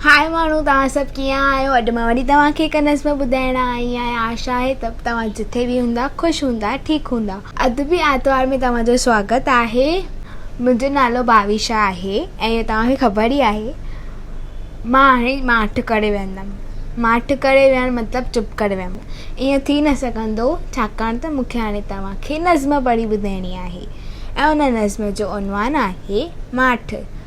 هائي ماڻهو توهان سڀ ڪيئن آهيو اڄ مان وري توهان کي هڪ نظم ٻڌائڻ آئي آهيان آشا آهي ته توهان جٿي به هوندا خوش هوندا ٺيڪ هوندا. ادبي آرتوار ۾ توهان جو سواگت آهي منهنجو نالو ڀاويشا آهي ۽ توهان کي خبر ئي آهي مان هاڻي ماٺ ڪري ويهندم ماٺ ڪري ويهڻ مطلب چپ ڪري ويهڻ ائين ٿي نه سگهندو ڇاڪاڻ ته مونکي هاڻي توهان کي نظم پڙهي ٻڌائڻي آهي ۽ ان نظم جو عنوان آهي ماٺ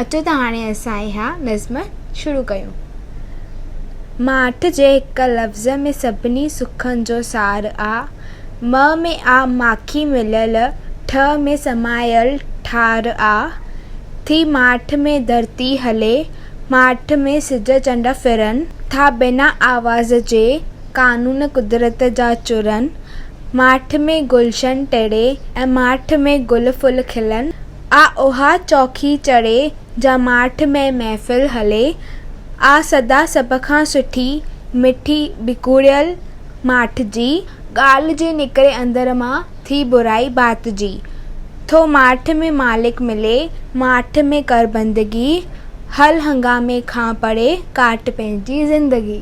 اچو ته هاڻي اسان اها نظم شروع ڪيون. ماٺ جي هڪ لفظ ۾ سڀني سکن جو سار آ. م ۾ آ ماکي مليل، ٺ ۾ سمايل ٺار آ. ٿي ماٺ ۾ ڌرتي هلي، ماٺ ۾ سج چنڊ ڦرن. ٿا بنا آواز جي، قانون قدرت جا چورن. ماٺ ۾ گلشن ٽڙي ۽ ماٺ ۾ گل ڦل کلن. آ اها چوکي چڙهي، جا ماٺ ۾ محفل هلي. آ سدا سڀ کان سٺي، مٺي ٻڪوڙيل ماٺ جي. ڳالهه جي نڪري اندر مان، ٿي برائي ڀات جي. ٿو ماٺ ۾ مالڪ ملي، ماٺ ۾ ڪر بندگي. هل هنگامي کان پري، ڪاٽ پنهنجي زندگي.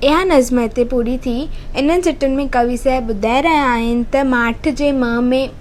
اها نظم هتي پوري ٿي. انهن سٽن ۾ ڪوي صاحب ٻڌائي رهيا آهن ته ماٺ جي منهن ۾.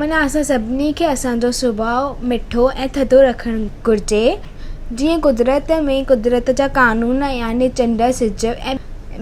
معنيٰ اسان سڀني کي اسان جو سڀاء مٺو ۽ ٿڌو رکڻ گهرجي، جيئن قدرت ۾ قدرت جا قانون يعني چنڊ، سج ۽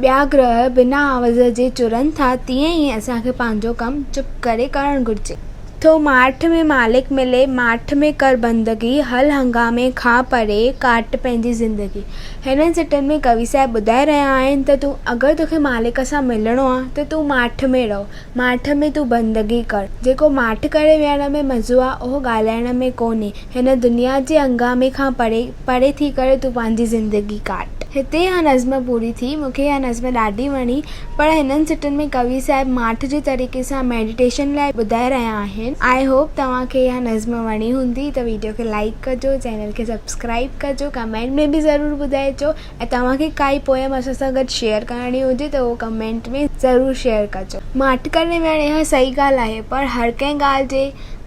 ٻيا گرهه بنا آواز جي چرن ٿا، تيئن ئي اسان کي پنهنجو ڪم چپ ڪري ڪرڻ گهرجي. ٿو ماٺ ۾ مالڪ ملي، ماٺ ۾ ڪر بندگي، هل هنگامي کان پري، ڪاٽ پنهنجي زندگي. هنن سٽن ۾ ڪوي صاحب ٻڌائي رهيا آهن ته تون اگر توکي مالڪ سان ملڻو آهي ته تون ماٺ ۾ رهه، ماٺ ۾ تون بندگي ڪر. جيڪو ماٺ ڪري ويهڻ ۾ مزو آ، اهو ڳالهائڻ ۾ ڪونهي. هن دنيا جي هنگامي کان پري، پري ٿي ڪري تون پنهنجي زندگي ڪاٽ. هتي اها نظم پوري ٿي. مون کي اها نظم ڏاڍي وڻي. پر هنن سٽن ۾ ڪوي صاحب ماٺ جي طريقي سان ميڊيٽيشن لاء ٻڌائي رهيا آهن. آء هوپ توهان کي اها نظم وڻي هوندي ته ويڊيو کي لائيڪ ڪجو، چينل کي سبسڪرائيب ڪجو، ڪمينٽ ۾ به ضرور ٻڌائجو. ۽ توهان کي ڪائي پوئم اسان سان گڏ شيئر ڪرڻي هجي ته اهو ڪمينٽ ۾ ضرور شيئر ڪجو. ماٺ ڪري ويهڻ اها صحيح ڳالهه آهي پر هر ڪنهن ڳالهه جي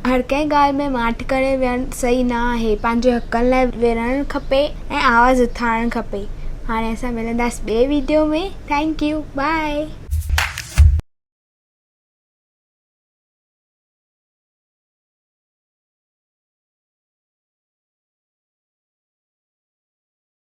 هر ڪنهن ڳالهه ۾ ماٺ ڪري ويهڻ صحيح نه آهي پنهنجي حقن لاء وڙهڻ کپي ۽ آواز اٿارڻ کپي هاڻي اسان ملنداس ٻئي ويڊيو ۾ ٿينڪ يو بائي.